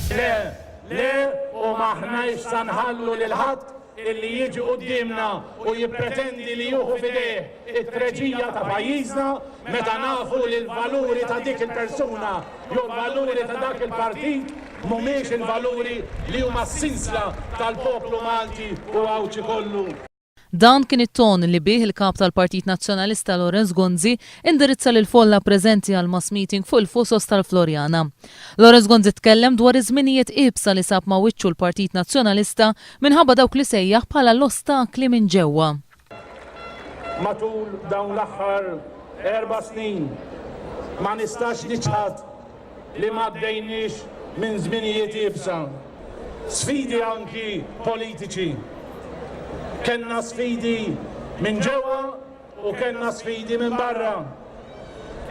Le, le u m'aħnajx sa nħallu lil ħadd illi jiġi quddiemna u jippretendi li juħu f'idejh it-treġija ta' pajjiżna meta nafu li l-valuri ta' dik il-persuna jew l-valuri ta' dak il-partit mhumiex il-valuri li huma s-sinsla tal-poplu Malti u Għawdxi kollu. Dan kien it-ton li bih il-Kap tal-Partit Nazzjonalista Lawrence Gonzi indirizza lill-folla preżenti għall-mass meeting fuq il-Fusos tal-Floriana. Lawrence Gonzi tkellem dwar iż-żminijiet iebsa li sab ma' wiċċu l-Partit Nazzjonalista minħabba dawk li sejjaħ bħala l-ostakli minn ġewwa. Matul dawn l-aħħar erba' snin ma nistax niċħad li m'għaddejniex minn żminijiet iebsa. Sfidi anki politiċi. Kellna sfidi minn ġewwa u kellna sfidi minn barra.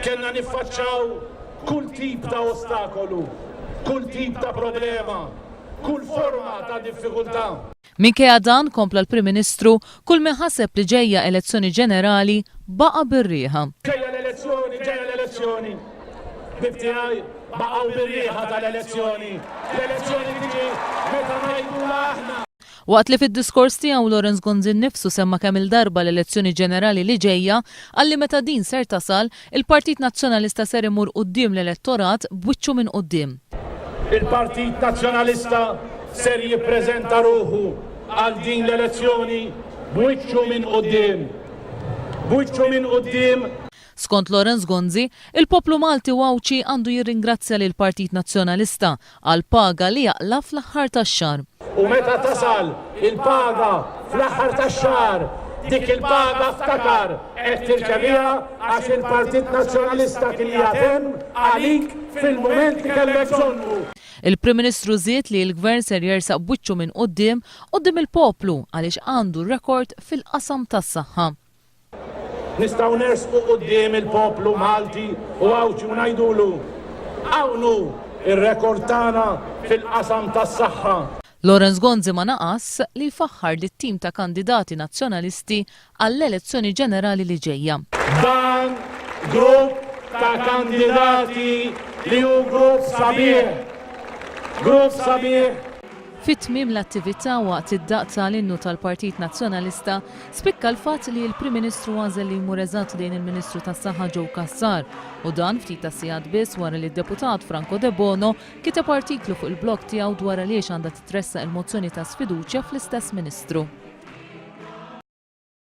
Kellna niffaċċaw kull tip ta' ostakolu, kull tip ta' problema, kull forma ta' diffikultà. Minkejja dan, kompla l-Prim Ministru, kull min ħaseb li ġejja elezzjoni ġenerali baqa' bir-riħa. Ġejja l-elezzjoni, ġejja l-elezzjoni. Ħbieb tiegħi baqgħu bir-riħa tal-elezzjoni. L-elezzjoni tiġi meta ngħidulha aħna. Waqt li fid-diskors tiegħu Lawrence Gonzi nnifsu semma kemm-il darba l-elezzjoni ġenerali li ġejja, qal li meta din ser tasal, Il-Partit Nazzjonalista ser imur quddiem l-elettorat b'wiċċu minn quddiem. Il-Partit Nazzjonalista ser jippreżenta ruħu għal din l-elezzjoni b'wiċċu minn quddiem. B'wiċċu minn quddiem. Skont Lawrence Gonzi, il-poplu Malti u Għawdxi għandu jirringrazzja lill-Partit Nazzjonalista għall-paga li jaqla' fl-aħħar tax-xahar. U meta tasal il-paga fl-aħħar tax-xahar, dik il-paga ftakar qed tirċeviha għax il-Partit Nazzjonalista kien qiegħed hemm għalik fil-mument li kellek bżonnu. Il-Prim Ministru żied li l-Gvern ser jersaq b'wiċċu minn quddiem quddiem il-poplu għaliex għandu rekord fil-qasam tas-saħħa. Nistgħu nersqu quddiem il-poplu Malti u Għawdxi u ngħidulu, hawn hu r-rekord tagħna fil-qasam tas-saħħa. Lawrence Gonzi ma naqas li jfaħħar lit-tim ta' kandidati Nazzjonalisti għall-elezzjoni ġenerali li ġejja. Dan grupp ta' kandidati li hu grupp sabiħ. Grupp sabiħ. Fi tmiem l-attività waqt id-daqq tal-innu tal-Partit Nazzjonalista, Spikka l-fatt li l-Prim Ministru għażel li jmur eżatt lejn il-Ministru tas-Saħħa Joe Cassar, u dan ftit tas-sigħat biss wara li d-Deputat Franco Debono kiteb artiklu fuq il-blog tiegħu dwar għaliex għandha titressaq il-mozzjoni ta' sfiduċja fl-istess Ministru.